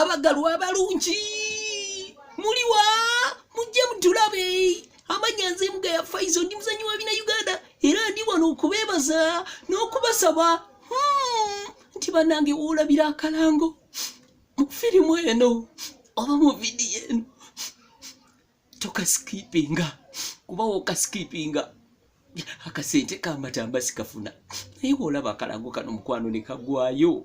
abagalwa abalungi muliwa mujje mutulabe amanya nze mga ya faizo ndi muzanyi wa bina uganda era ndi wano okubebaza n'okubasaba hmm, nti banange wolabira akalango mu firimu eno oba mu vidiyo eno tokasikipinga kuba wokasikipinga akasente kamatamba sikafuna naye wolaba akalango kano mukwano nekagwayo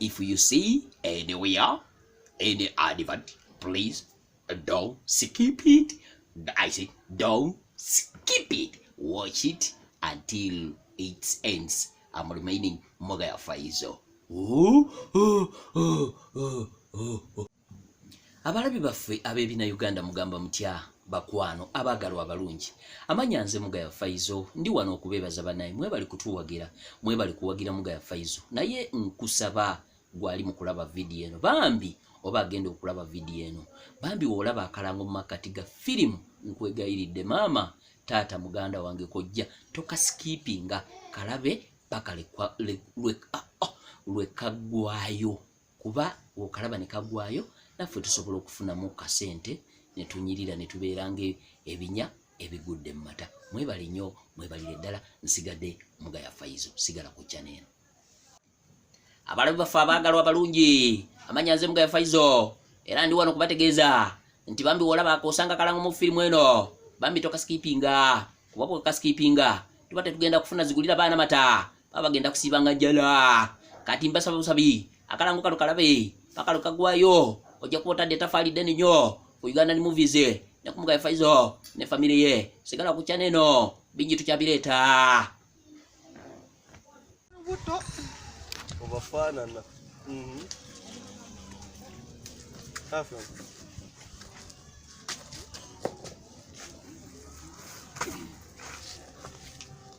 if you see anywhere any advert please don't skip it i say don't skip it watch it until it ends i'm remaining mogaya faizo oh, oh, oh, oh, oh. abalabi baffe ab'ebina uganda mugamba mutya bakwano abaagalwa abalungi amanya nze mugaya faizo ndi wano okubeebaza banaye mwebali kutuwagira mwebali kuwagira mugaya faizo naye nkusaba gwali mu kulaba vidiyo eno bambi oba agenda okulaba vidiyo eno bambi woolaba akalango mu makkati ga firimu nkwegayiridde maama taata muganda wange kojja tokasikipinga kalabe paka lwekaggwayo ah, oh, kuba okalaba ne kagwayo naffe tusobola okufunamu kasente ne tunyirira ne tubeera nga ebinya ebigudde mu mata mwebale nnyo mwebalire ddala nsigadde mugaya faizo sigala ku chana eno abalabi baffe abaagalwa abalungi amanya nze mugaya faizo era ndi wano kubategeeza nti bambi wolaba akosanga kalango mu firimu eno bambi tokasikipinga kuba bwekasikipinga tuba tetugenda kufuna zigulira baana mata baba genda kusiba nga jala kati mbasaba busabi akalango kalo kalabe pakalo kagwayo oja kuota data fali deni nyo ku Uganda ni movies ne kumuga ya faizo ne family ye sigala ku channel no binji tuchabileta buto obafana na mhm mm Afya.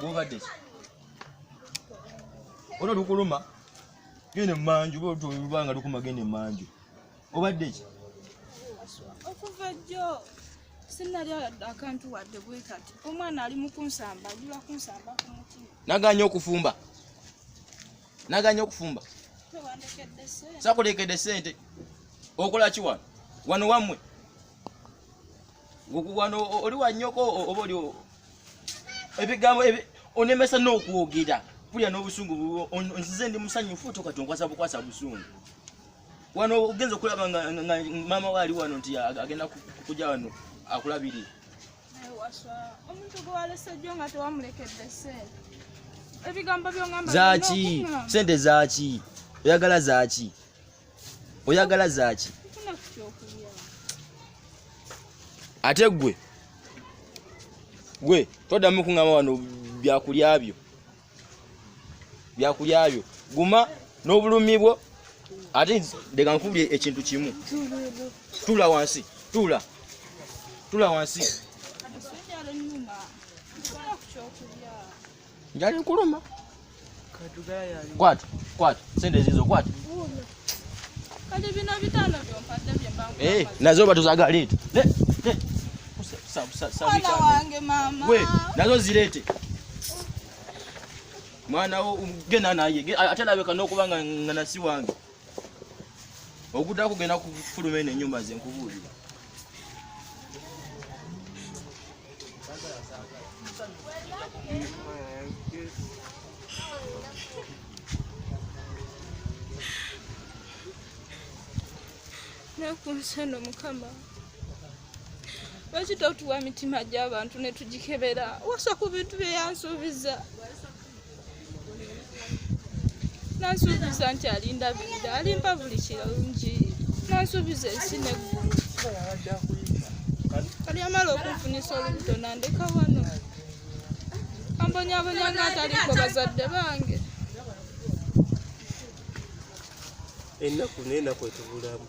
gwobadde ki olwo lukuluma genda emanju lubanga lukuma genda emanju obadde ki okuva jjo sinali akantu wadde bwekati omwana ali mukunsamba ajula kunsamba kumutima naganya okufumba naganya okufumba sakulekedde sente okola ki wano wano wamwe wano oli wanyoko oba oli ebigambo onemesa n'okwogera kulya n'obusungu nzize ndi musanyufu toka tonkwasa bukwasa busungu wano ogenza okulaba nga maama we ali wano nti agenda kuja wano akulabirire omuntu gwewalese jjo nga tewamulekedde sente ebigambo byongamba zaki sente zaki oyagala zaki oyagala zaaki ate gwe gwe toddamu kuŋama wano byakulya byo byakulya byo guma n'obulumi bwo ate leka nkubulye ekintu kimu tuula wansi tuula tuula wansi Njali nkuluma. Kwatu, kwatu, sente zizo kwatu. Kati bino bitano byo mpate bye bangu. Eh, nazo batu za gari. Ne, ne. Kusa, sa, sa, sa. Mwana wange mama. We, nazo zilete. Mwana wo um, gena naye. Atela weka no kubanga ngana si wange. ogudda kugenda kufuluma eno enyumba nze nkubuulira nakunsano mukama lwaki totuwa mitima gy'abantu ne tugikebera wasa ku bintu bye yansuubiza nansuubiza nti alindabirira alimpa buli kirungi nansuubiza ensi neggulu kali amala okunfunisa olubuto nandeka wano ambonyabonya nga ataliko bazadde bange ennaku nenaku etubulamu